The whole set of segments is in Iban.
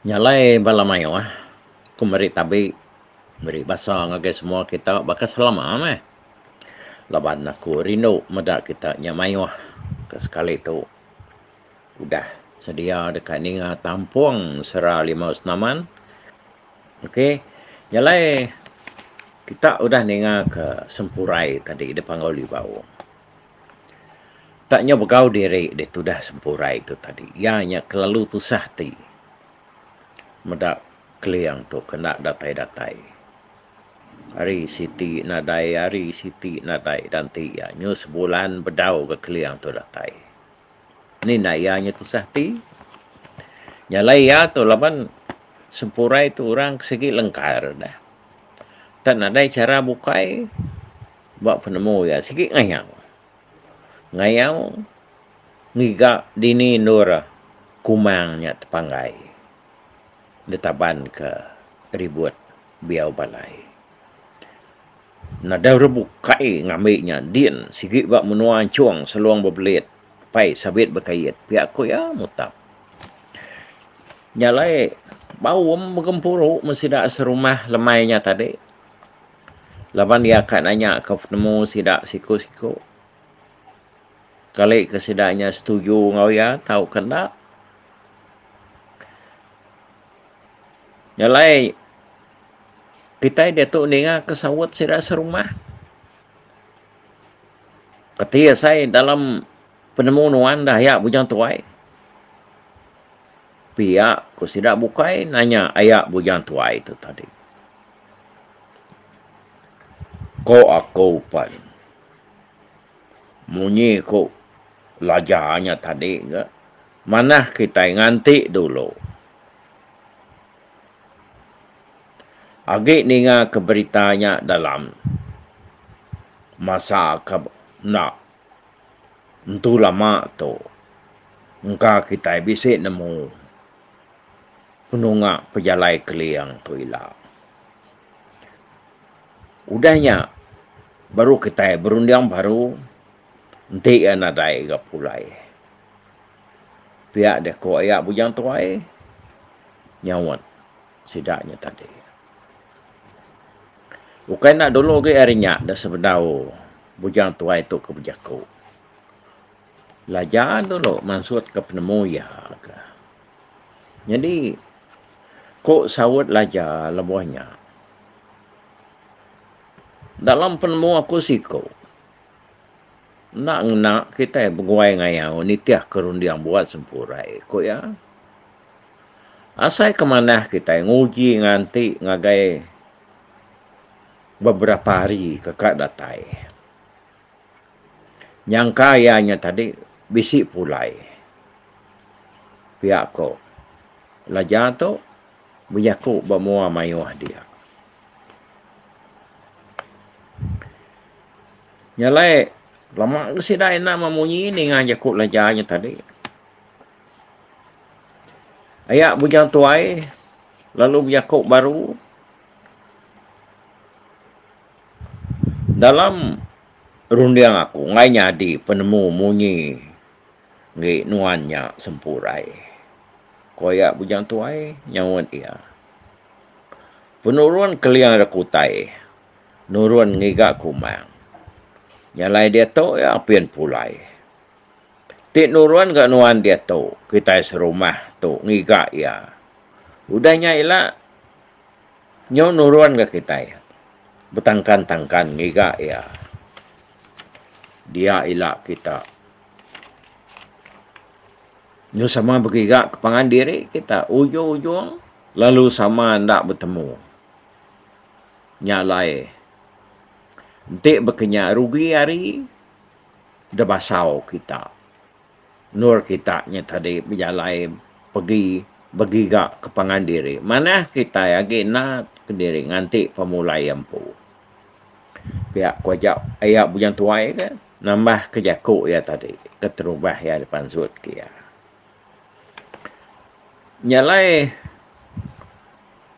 Nya alai bala mayuh ku meri tabi meri basa ngagai semua kita baka selama meh. Laban aku rindu meda kita nya mayuh ke sekali tu udah sedia deka ninga tampung sera limau senaman. Ok nya alai kita udah ninga ke sempurai tadi dipanggau libau. Tang nyau begau diri deh tudah sempurai tu tadi iya nya kelalu tusah ati meda Keling tu ke enda datai-datai. Ari siti nadai ari siti nadai dan ti iya nyu sebulan bedau ga Keling tu datai. Ni enda iya nya tusah ati. Nyalai iya tu laban sempurai tu orang ke sigi lengkar dah. Tang nadai chara bukai. Ba penemu iya, sigi ngayau. Ngayau ngiga dini endur kumang nya tepanggai ditabanka ribut biau balai. Nadau ra bukai ngambi nya din sigi ba menua Anchong Selong Bebelit pai sabit bekait pia ku iya mutap. Nya alai baum begempuru meh sida serumah lemai nya tadi. Laban iya ka nanyaka penemu sida siku-siku. Kali ke sida nya setuju enggau iya tauka enda. Nya alai kitai diatu ningaka saut sida serumah. Peti asai dalam penemu nuan dah aya Bujang Tuai. Pia ku sida bukai nanya aya Bujang Tuai tu tadi. Ko aku pan. Munyi ku laja nya tadi ga manah kitai nganti dulu. Agi ninga ke berita nya dalam masa ke enda entu lama tu engka kitai bisi nemu. penunga pejalai Keling tu ila. Udah nya baru kitai berunding baru enti iya nadai ga pulai. Pia deh ku aya Bujang Tuai nyaut sida nya tadi. Ukai enda dulu agi ari nya da sebedau Bujang Tuai tu ke bejaku. Belajar dulu mansutka penemu iya ke. Nyadi ku saut laja lebuh nya dalam penemu aku siku enda ngena kitai beguai ngayau nitihka runding buat sempurai ku iya. Asai ke manah kitai nguji nganti ngagai beberapa hari ke ka datai. Nyangka iya nya tadi bisi pulai pia ko laja tu bejaku ba mua mayuh dia. Nya alai lama ga sida ina meh munyi ninga jaku laja nya tadi. Aya bujang tuai lalu bejaku baru. Dalam runding aku enggai nyadi penemu munyi enggi nuan nya sempurai, ku iya Bujang Tuai nyaut iya. Penurun Keling Rak Utai nurun ngiga kumang. Nya alai diatu iya apin pulai. Ti nurun ga nuan diatu kitai serumah tu ngiga iya. Udah nya ila. Nyau nurun ga kitai betangkan-tangkan ngiga iya. Dia ila kita. Nyu sama begiga ke pangan diri kita ujung-ujung lalu sama enda betemu. Nya alai enti bekenya rugi ari debasau kita. endur kita nya tadi bejalai pegi begiga ke pangan diri manah kitai agi enda kediri nganti pemulai empu. Pia ku aja iya Bujang Tuai ke nambah ke jaku iya tadi keterubah iya dipansut ke iya. Nyalai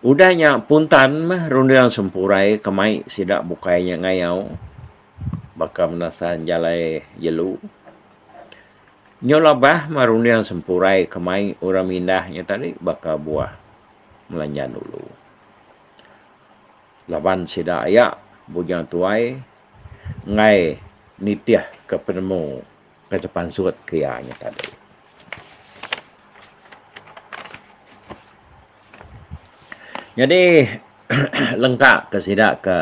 udah nya puntan meh runding sempurai ke mai sida bukai nya ngayau baka menasan jalai jelu. Nyau labah mah runding sempurai ke mai orang mindah nya tadi baka buah Melanjan Ulu. Laban sida aya Bujang Tuai enggai nitih ke penemu ke tepansut ke iya nya tadi. Nyadi lengka ke sida ke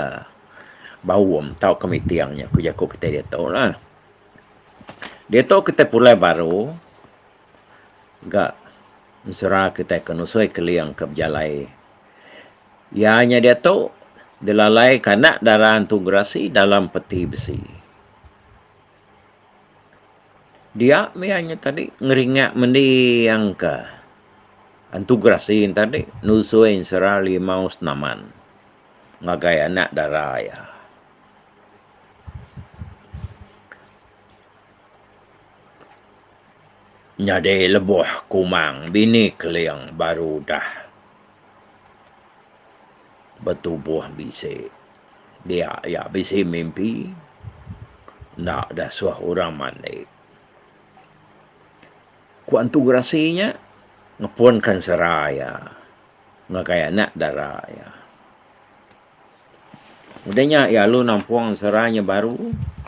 Baum tau ke Miting nya ku jaku kitai ditu lah. Diatu kitai pulai baru ga mesra kitai ke nusui keling ke bejalai. Iya nya diatu dilalai ke anak dara Entu Gerasi dalam peti besi. Dia mih iya nya tadi ngeringa mendi angka Entu Gerasi tadi nusui mesra limau senaman ngagai anak dara iya. Nyadi lebuh kumang bini Keling baru udah betubuh bisi. Dia iya bisi mimpi enda disuh orang mandi. Ku Entu Gerasi nya ngepunka sera iya ngagai anak dara iya. Udah nya iya lalu nampung sera nya baru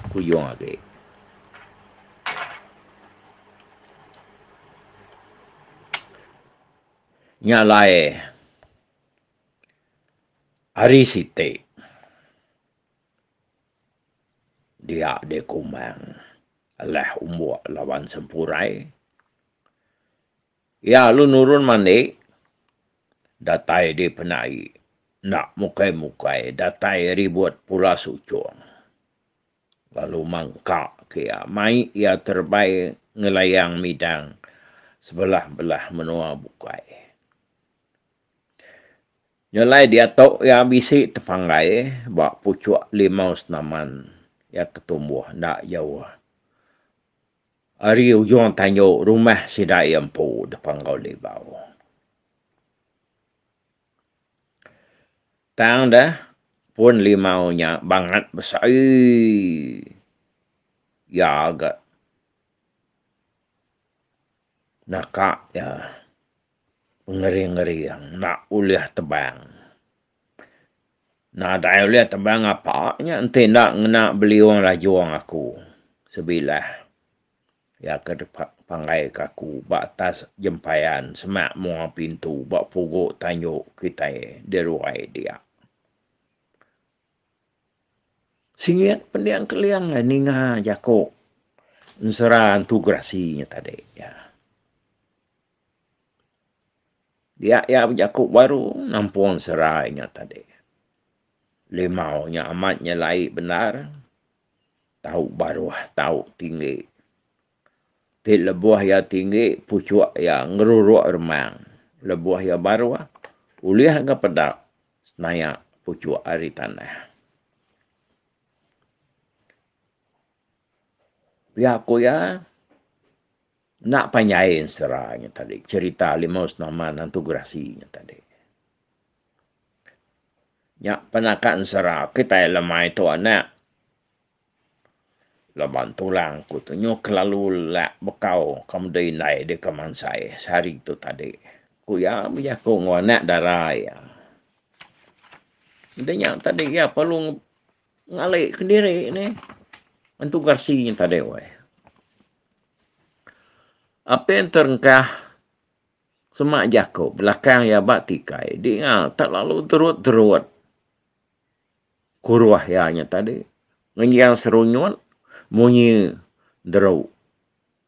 kuyung agi. Nya alai ari siti dia dikumang alah umbok laban sempurai. Iya alu nurun mandi, datai di penai, enda mukai-mukai, datai ribut pula suchong. Lalu mangka ke iya, mai iya terebai ngelayang midang sebelah-belah menua bukai. Nyelai diatu iya bisi tepanggai ba puchuk limau senaman iya ketumbuh enda jauh Ari ujung tandu rumah sida iya empu deka enggau libau. Tang deh, pun limau nya bangat besai iya ga naka iya pengeri-ngeri enda ulih tebang. Nadai ulih teban ngapa nya enti enda ngena beliung lajung aku sebilah iya ke dipanggaika aku ba atas jempayan semak menua pintu ba pugu tanju kitai di ruai dia. Singit pending keling ai ninga jaku ensera entu gerasi nya tadi. Dia iya bejaku baru nampung serai nya tadi. Limau nya amat nyelai bendar. Tau baruh, tau tinggi. Ti lebuh iya tinggi, puchuk iya ngeruruk remang. Lebuh iya baruh, ulih ga peda senayak puchuk ari tanah. Pia ku iya, Enda pai nyain sera nya tadi cherita Limau Senaman Nantu Gerasi nya tadi. Nya penakan sera kitai lemai tu anak. Laban tulang aku tu nyuh kelalu lak bekau ka meda indai deka mansai sehari tu tadi, ku iya bejaku enggau anak dara iya. Meda nya tadi iya perlu. Ngalih kediri ni. Entu garsi nya tadi weh. Apin terengkah semak jaku belakang iya ba tikai dinga tak lalu terut-terut kuruh iya nya tadi ngenjang serunyut munyi deru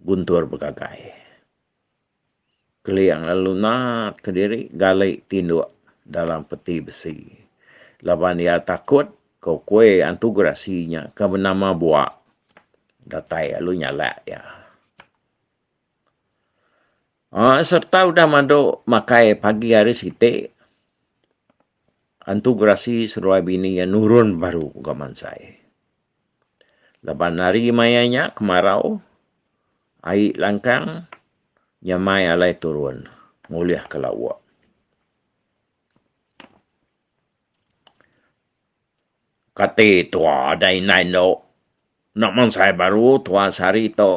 guntur begagai. Keling lalu natka diri gali tinduk dalam peti besi. Laban iya takut ko kue antu gerasi nya ke benama bua datai lalu nyalak iya. Aa serta udah madu makai pagi hari siti antu gerasi seduai bini iya nurun baru ga mansai. Laban ari maya nya kemarau, ai langkang nyamai alai turun ngulihka lauk. Kati tua dai indai endo enda mansai baru tua sehari tu,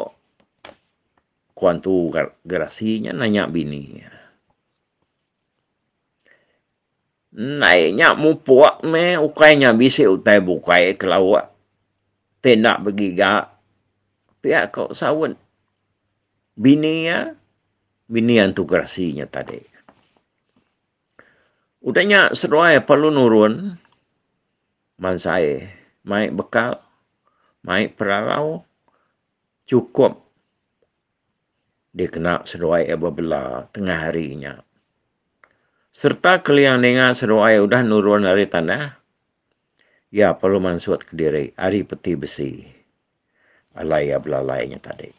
ku antu Gerasi nya nanya bini iya. Endai nya mupuk meh ukai nya bisi utai bukai ke lauk ti enda begiga pia ko saut bini iya bini antu gerasi nya tadi. Udah nya seduai perlu nurun mansai mai bekal mai peralau chukup dikena seduai iya bebela tengah hari nya sereta kelia ninga seduai iya udah nurun ari tanah, iya perlu mansut kediri ari peti besi alai iya belalai nya tadi.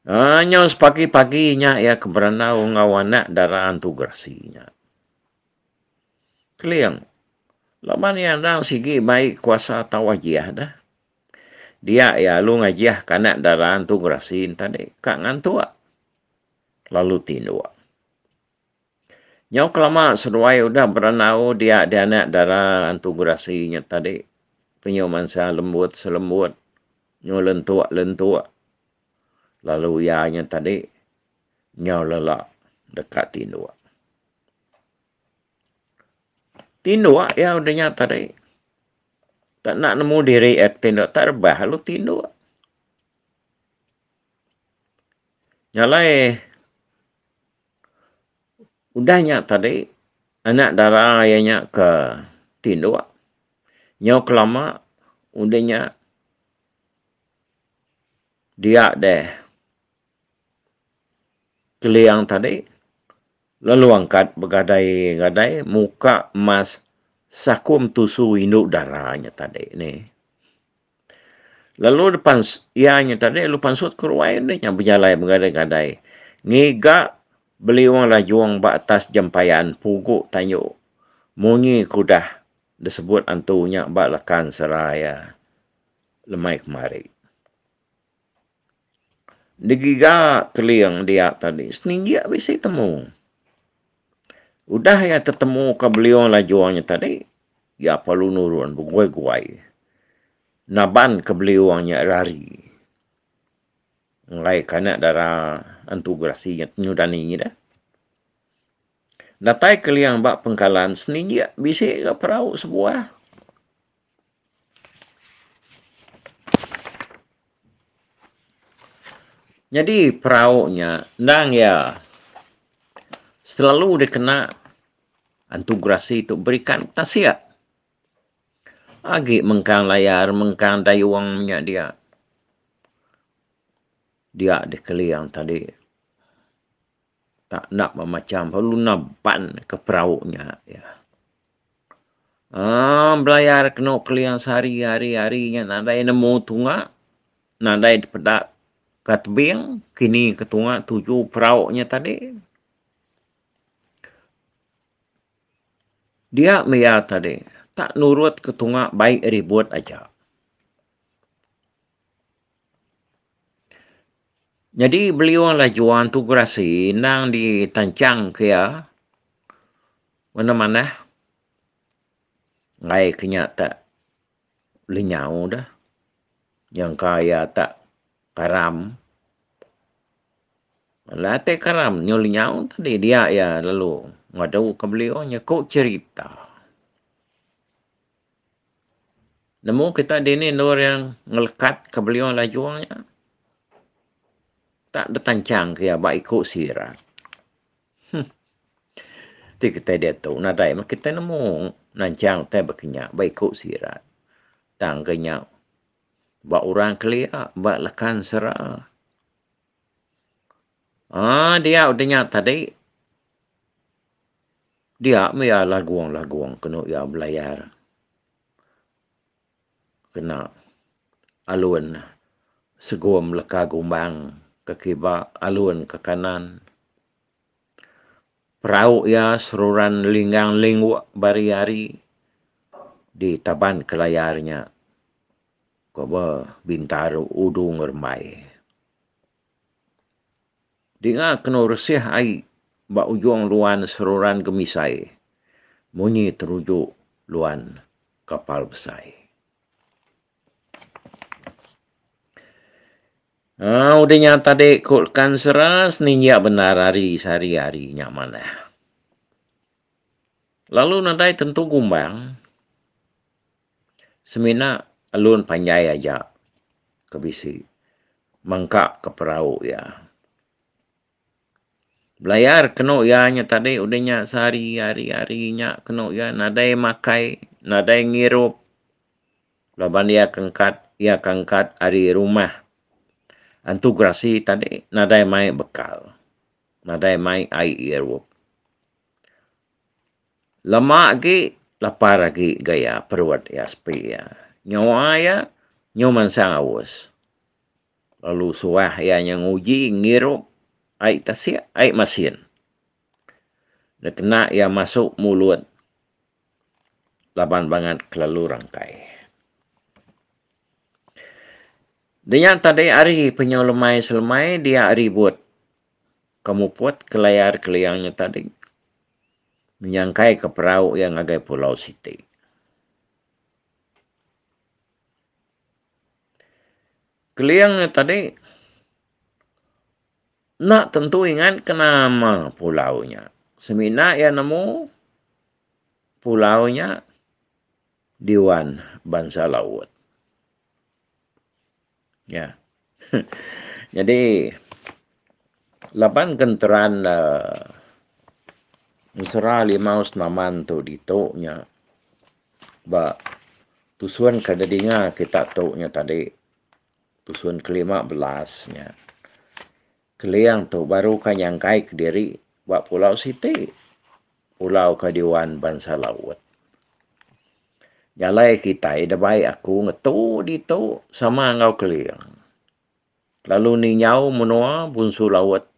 Aa nyau sepagi-pagi nya iya ke berandau enggau anak dara antu gerasi nya. Keling laban iya endang sigi mai kuasa tau ajiah deh. Dia iya alu ngajih kanak dara entu gerasi enta deh ka ngantuk lalu tinduk. Nyau kelama seduai udah berandau dia dianak dara entu gerasi nya tadi penyu mansa lembut selembut nyu lentuk lentuk lalu iya nya tadi nyau lala deka tinduk. Tinduk iya udah nya tadi. Enda nak nemu diri a ti enda tak rebah lalu tinduk. Nyalai udah nya tadi anak dara iya nya ke tinduk nyau kelama udah nya dia deh Keliang tadi lalu angkat begadai-gadai muka mas sakum tusu indu dara nya tadi ni. Lalu depan iya nya tadi lalu pansut ke ruai enti nya bejalai begadai-gadai ngiga beliung lajung ba atas jempayan pugu tanyu munyi ke udah disebut antu nya ba lakan sera iya lemai kemari. Digiga Keling dia tadi, seninggik bisi temu. Udah iya tetemuka beliung lajung nya tadi, iya perlu nurun beguai-guai nabanka beliung nya rari. Enggai ka nya dara Entu Gerasi nya nyudani ida. Datai Keling ba pengkalan, seninggik bisi ga perau sebuah. Nyadi perau nya endang iya selalu dikena antu gerasi tu berikan tasik agi mengkang layar mengkang dayung nya dia dia dikeling tadi. tak enda memacham lalu enda pan ke perau nya iya. Um belayar kenu keling sehari hari hari nya nadai nemu tunga nadai dipeda ka tebing kini ke tunga tuju perau nya tadi. Dia meh iya tadi tak nurut ke tunga baik ribut aja. Nyadi beliung lajuan tu gerasi endang ditanchangka iya mene manah enggai ke nya tak lenyau deh nyangka iya tak karam. Alah tai karam nyau lenyau ti dih dia iya lalu ngaduka beliung nyeku cherita. Nemu kita dini endur iya ngelekat ke beliau lajung nya tak betanchang ke iya ba iku sira. Huh. Ti kitai diatu nadai meh kitai nemu nanchang utai ba kinya ba iku sira. Tang ke nya ba orang kelia, ba lakan sera. Aa diau de nya tadi. Dia meh iya lagung-lagung kenu iya belayar kena alun segum leka gumbang ke kiba alun ke kanan. Perau iya seruran linggang lingguk ba ari ari di taban ke layar nya ko ba Bintaro Udu Ngerembai. Dinga kenu resih ai ba ujung luan seruran gemisai munyi teruju luan kapal besai. Aa udah nya tadi ku Lekan Sera seninjak bendar ari sehari hari nya manah. Lalu nadai tentu gumbang. Semina alun panjai aja ke bisi mangka ke perau iya. Belayar kenu iya nya tadi udah nya sehari hari hari nya kenu iya nadai makai nadai ngirup laban iya ke angkat iya ke angkat ari rumah antu gerasi tadi nadai mai bekal nadai mai ai irup. Lama agi lapar agi gaya perut iya sepi iya. Nyawa iya nyau mansang aus. Lalu suah iya nya nguji ngirup ai tasik ai masin. Enda kena iya masu mulut laban bangat kelalu rangkai. Denya tadi ari penyau lemai selemai dia ribut ke muput ke layar keliang nya tadi menyangkaika perau iya ngagai pulau siti. Keling iya tadi enda tentu ingatka nama pulau nya. Semina iya nemu pulau nya Dewan Bansa Laut. Nya. Nyadi laban kenteran uhh ensera limau senaman tu ditu nya ba tusun ke nedinga kita tu nya tadi tusun kelima belas nya. Keling tu baru ka nyangkai ke diri ba pulau siti, pulau ke diwan bansa laut. Jalai kitai da bai aku ngetu ditu sama enggau Keling. Lalu ninyau menua bunsu laut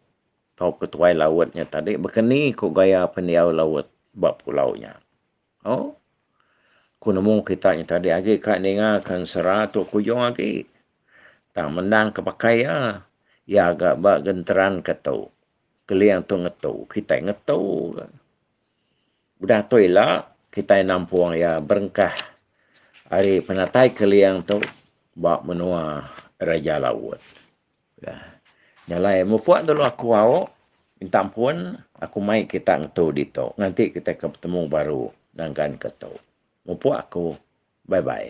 tauka tuai laut nya tadi baka ni ku gaya pendiau laut ba pulau nya. Oh, ku nemu kita nya tadi agi ka ninga ka ensera tu kujung agi. Tang mendang ka pakai iya, iya ga ba genteran ka tu. Keling tu ngetu, kitai ngetu ka. Udah tu ila, kitai nampung iya berengkah ari penatai keling tu ba menua Raja Laut. Nah, nya alai mupuk dulu aku au minta ampun, aku mai kita ngetu ditu nganti kita ke betemu baru nangkan ke tu. Mupuk aku. Bye bye.